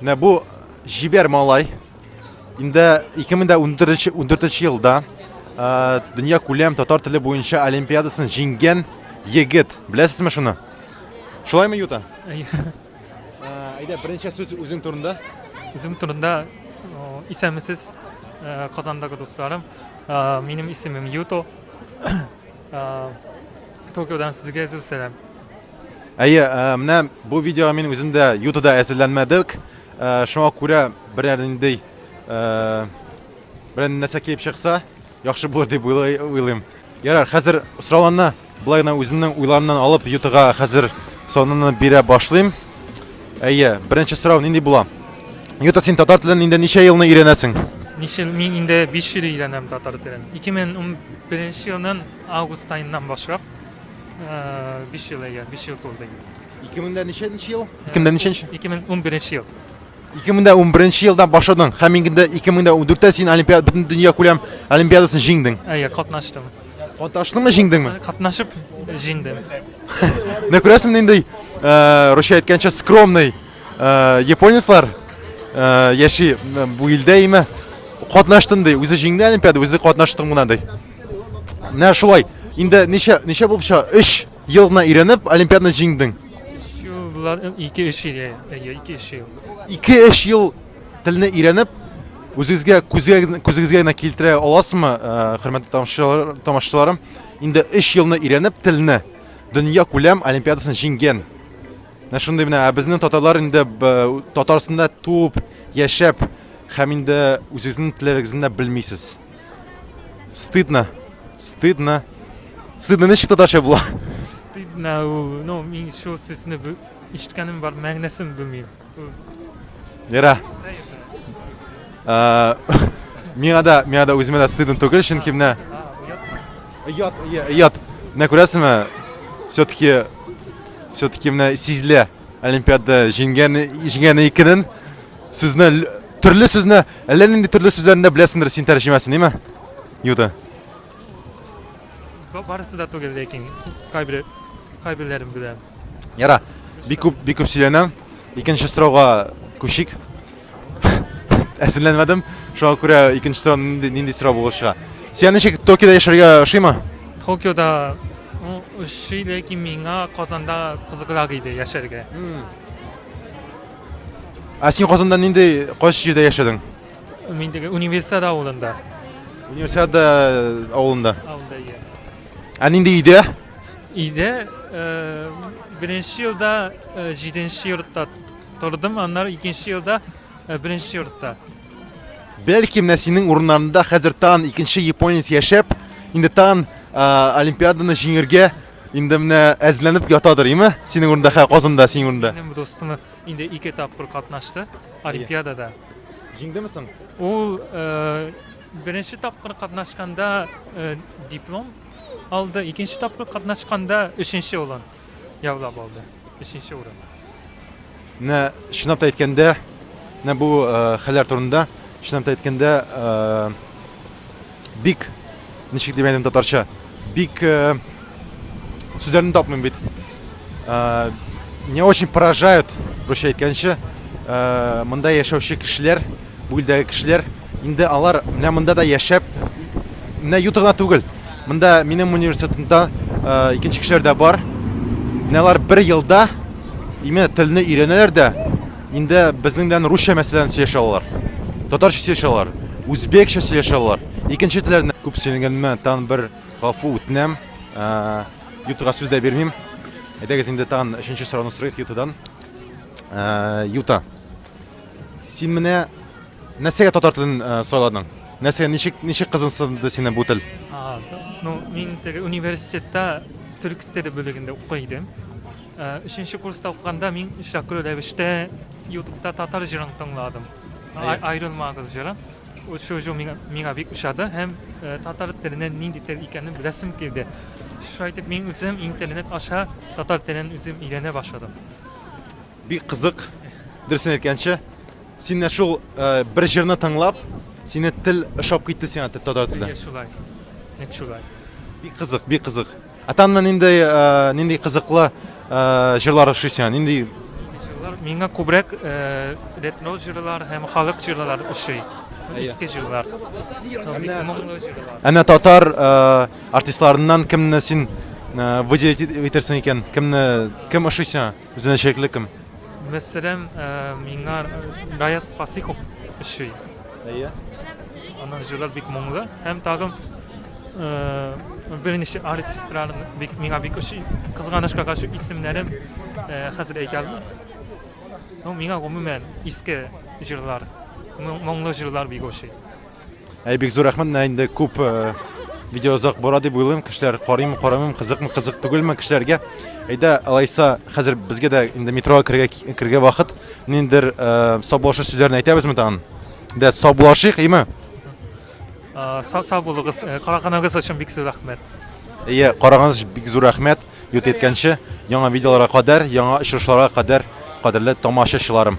Менә бу җибәр малай. Инде 2014 елда дөнья күләм татар теле буенча олимпиадасын җиңгән егет. Беләсезме шуны? Шулаймы, Юта? Әйдә, беренче сүз үзең турында. Үзем турында исәнмесез, Казандагы дусларым. Минем исемем Юто. Токиодан сезгә зур сәлам. Әйе, э, менә бу видеога мин үзем дә ютада әзерләнмәдек. Э, шуңа күрә берәр инде э, берәр нәрсә килеп чыкса, яхшы булыр дип уйлыйм. Ярар, хәзер сорауларны былай гына үземнең уйларымнан алып ютага хәзер соныны бирә башлыйм. Әйе, беренче сорау нинди була? Юта син татар телен инде ничә елны өйрәнәсең? Ничә мин инде 5 ел өйрәнәм татар телен. 2011 елның август айыннан башлап Э, биш ел әйе, биш ел тулды инде. 2000-дә ничәнче ел? 2000-дә ничәнче? 2011 ел. 2011 елдан башладың һәм инде 2004-тә син олимпиада бөтен дөнья күләм олимпиадасын җиңдең. Әйе, катнаштым. Катнаштыңмы, җиңдеңме? Катнашып җиңдем. Менә күрәсең инде э, Русия әйткәнчә скромный э, японецлар яши бу илдә име? Катнаштым ди, үзе җиңде олимпиада, үзе катнаштым гына ди. Менә шулай. Инде ничә ничә булып чыга? 3 ел гына өйрәнеп, олимпиаданы җиңдең. Юллар 2-3 ел. Әйе, 2-3 ел. 2-3 ел телне өйрәнеп, үзегезгә күзгә күзегезгә генә килтерә аласызмы, э, хөрмәтле тамашачылар- тамашачыларым? Инде 3 елны өйрәнеп телне, дөнья күләм олимпиадасын җиңгән. Менә шундый менә, ә безнең татарлар инде б- Татарстанда туып, яшәп һәм инде үзегезнең телләрегезне дә белмисез. Стыдно. Стыдно. Стыдно ничек татарча була? Стыдно ул. Ну, мин шул сүзне бу ишеткәнем бар, мәгънәсен белмим. Нера. Э, миңа да, миңа да үземә дә стыдно түгел, чөнки менә Ят, ят. Менә күрәсеңме? Все-таки все-таки менә сизелә. Олимпиада җиңгән җиңгән икенен сүзне төрле сүзне әллә нинди төрле сүзләрен дә беләсеңдер син тәрҗемәсен, әйме? Юда. Барысы да түгел, ләкин кайбер кайберләрен беләм. Яра. Бик күп бик күп сөйләнәм. Икенче сорауга күчик. әзерләнмәдем. Шуңа күрә икенче сорау нинди, нинди сорау булып чыга. Сиңа ничек Токиода яшәргә ошыймы? Токиода ну, ошый, ләкин миңа Казанда кызыграк иде яшәргә. Ә син Казанда нинди кайсы җирдә яшәдең? Мин теге университет авылында. Универсиада авылында. Авылда иә. Ә нинди өйдә? Өйдә э, беренче елда э, җиденче йортта Тордым, аннары икенче елда э, беренче йортта. Бәлки менә синең урыннарында хәзер тан икенче японец яшәп, инде тан ә, олимпиаданы җиңергә инде менә әзерләнеп ятадыр, име? Синең урында хә Казанда, синең урында. Минем дустым инде ике тапкыр катнашты олимпиадада. Җиңдеме соң? Ул э, беренче тапкыр катнашканда э, диплом алды, икенче тапкыр катнашканда өченче улан. Яулап алды. Өченче урын. Менә чынлап та әйткәндә, менә бу хәлләр турында чынлап та әйткәндә бик ничек дип әйтәм татарча, бик сүзләрне тапмыйм бит. Не очень поражают, русча әйткәнче, монда яшәүче кешеләр. Бу илдәге кешеләр, инде алар менә монда да яшәп, менә юты гына түгел. Монда минем университетымда икенче кешеләр дә бар. Менә алар бер елда именно телне өйрәнәләр дә, инде безнең белән русча мәсьәләне сөйләшә алалар. Татарча сөйләшә алалар, үзбекчә сөйләшә алалар. Икенче телләрне күп сөйләгәнемә тагын бер гафу үтенәм. Ютыга сүз дә бирмим. Әйдәгез инде тагын өченче сорауны сорыйк Ютадан. Юта. Син менә нәрсәгә татар телен э, сайладың? Нәрсәгә ничек ничек кызыксынды сине бу тел? А, ну, мин теге университетта төрек теле бүлегендә укый идем. Ә, Өченче курста укыганда мин шәкүр рәвештә Ютубта татар җырын тыңладым. Ай- Аерылмагыз җыры. Ул Шул җыр миңа, миңа бик ошады һәм э, татар теленең нинди тел икәнен беләсем килде. Шулай итеп мин үзем интернет аша татар телен үзем өйрәнә башладым. Бик кызык, дөресен әйткәнче. Син менә шул бер җырны тыңлап, сине тел ошап китте сиңа татар теле. Әйе, шулай. Нәк шулай. Бик кызык, бик кызык. Ә танма нинди нинди кызыклы җырлар ошый сиңа? Нинди җырлар? Миңа күбрәк ретро җырлар һәм халык җырлар ошый. Иске җырлар. Моңлы җырлар. Әнә татар артистларыннан кемне син выделить итәрсең икән? Кемне кем ошый сиңа? Үзенчәлекле кем? Мәсәлән, миңа Гаяз Фасихов ошый. Әйе. Аның җырлары бик моңлы һәм тагын берничә артистлар бик миңа бик ошый. Кызганычка каршы исемнәрен хәзер әйтә алмыйм. Ну, миңа гомумән иске җырлар, моңлы җырлар бик ошый. Әй, бик зур рәхмәт, менә инде күп э, видео озак бара дип уйлыйм, кешеләр карыймы, карамыйм, кызыкмы, кызык түгелме кешеләргә. Әйдә, алайса, хәзер безгә дә инде метрога керергә керергә вакыт. Ниндер э, саубулашу сүзләрен әйтәбезме тагын? Дә саубулашыйк, име? Э, Сау сау булыгыз. Э, Караганыгыз өчен бик зур рәхмәт. Әйе, караганыгыз өчен бик зур рәхмәт. Ют еткәнче, яңа видеоларга кадәр, яңа очрашуларга кадәр, кадерле тамашачыларым.